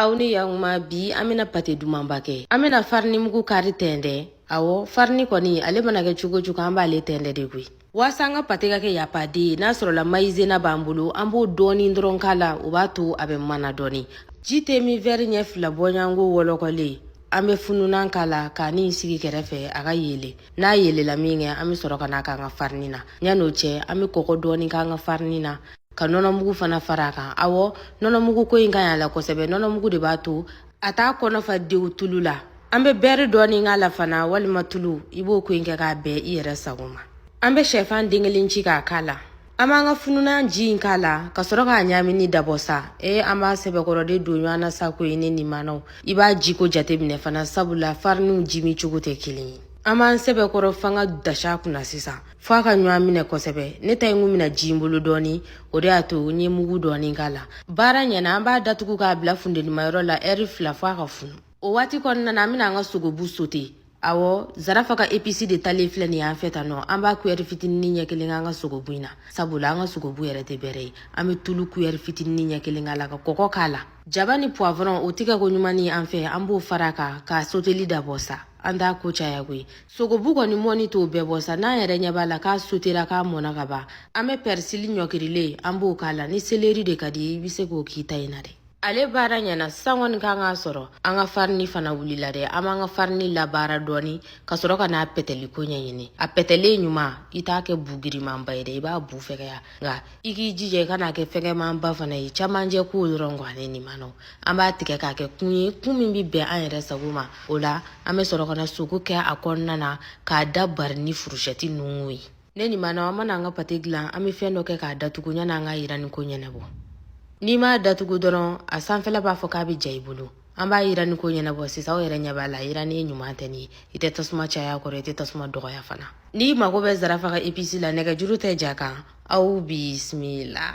aw ni yakuma bi an bɛna pate dumanba kɛ an bɛna farini mugu kari tɛntɛn awɔ farini kɔni ale mana kɛ cogo cogo an b'ale tɛntɛn de koyi waasa an ka pate ka kɛ yapaden ye n'a sɔrɔla mayizena b'an bolo an b'o dɔɔni dɔrɔn k'a la o b'a to a bɛ mana dɔɔni ji te min vɛri ɲɛ fila b'o ɲa nk'o wɔlɔkɔlen an bɛ fununan k'a la k'a ni sigi kɛrɛfɛ a ka yele n'a yelela min kɛ an bɛ sɔrɔ ka n'a k'an ka farini na yan'o cɛ an bɛ kɔgɔ dɔɔni k'an ka farini na ka nɔnɔmugu fana fara a kan awɔ nɔnɔmugu ko in ka ɲi a la kosɛbɛ nɔnɔmugu de b'a to a t'a kɔnɔ fa dewu tulu la an bɛ bɛri dɔɔni k'a la fana walima tulu i b'o ko in kɛ k'a bɛn i yɛrɛ sago ma an bɛ shɛfan den kelen ci k'a k'a la an b'an ka fununan ji in k'a la ka sɔrɔ k'a ɲaamini dabɔ sa ee an b'a sɛbɛkɔrɔ de don ɲɔgɔn na sa koyi ne nimanaw i b'a jiko jateminɛ fana sabula fariniw jimi cogo tɛ kelen ye an b'an sɛbɛkɔrɔ fanga da s'a kunna sisan fɔ a ka ɲɔgɔn minɛ kosɛbɛ ne ta in kun mina ji n bolo dɔɔni o de y'a to n ye mugu dɔɔni k'a la baara ɲɛna an b'a datugu k'a bila funtenimayɔrɔ la ɛri fila fɔ a ka funu o waati kɔnɔna na an bɛna an ka sogobu sote awɔ zarafa ka episi de talen filɛ nin y'an fɛ tan nɔ an b'a kuyɛri fitinini ɲɛ kelen k'an ka sogobu in na sabula an ka sogobu yɛrɛ tɛ bɛrɛ ye an bɛ tulu kuyɛri fitinini ɲɛ kelen k'a la ka kɔgɔ k'a la jaba ni puwavɔrɔn o tigɛ ko ɲuman ni an fɛ an b'o fara kan ka soteli dabɔ sa an t'a ko caya koyi sogobu kɔni mɔni t'o bɛɛ bɔ sa n'an yɛrɛ ɲɛ b'a la k'a sotera k'a mɔna ka ban an bɛ pɛrisili ɲɔkirilen an b'o k'a la ni seleri de ka di i bɛ se k'o k'i ta in na dɛ ale baara ɲɛna sisan kɔni kan k'a sɔrɔ an ka farini fana wulila dɛ an b'an ka farini labaara dɔɔni ka sɔrɔ ka n'a pɛtɛli ko ɲɛɲini a pɛtɛlen ɲuman i t'a kɛ bu girimanba ye dɛ i b'a bu fɛgɛya nka i k'i jija i kan'a kɛ fɛgɛmanba fana ye camancɛ ko dɔrɔn wo ne nimanaw an b'a tigɛ k'a kɛ kun ye kun min bɛ bɛn an yɛrɛ sago ma o la an bɛ sɔrɔ ka na sogo kɛ a kɔnɔna na k'a da bari ni furusɛti ninnu ye ne nimanaw an mana an ka pate dilan an bɛ fɛn dɔ kɛ k'a datugu yanni an ka yirani ko ɲɛnabɔ n'i m'a datugu dɔrɔn a sanfɛla b'a fɔ k'a bɛ ja i bolo an b'a yirani ko ɲɛnabɔ sisan aw yɛrɛ ɲɛ b'a la yirani ɲuman tɛ nin i tɛ tasuma caya kɔrɔ i tɛ tasuma dɔgɔya fana n'i mago bɛ zarafa ka episi la nɛgɛjuru tɛ ja kan aw bisimila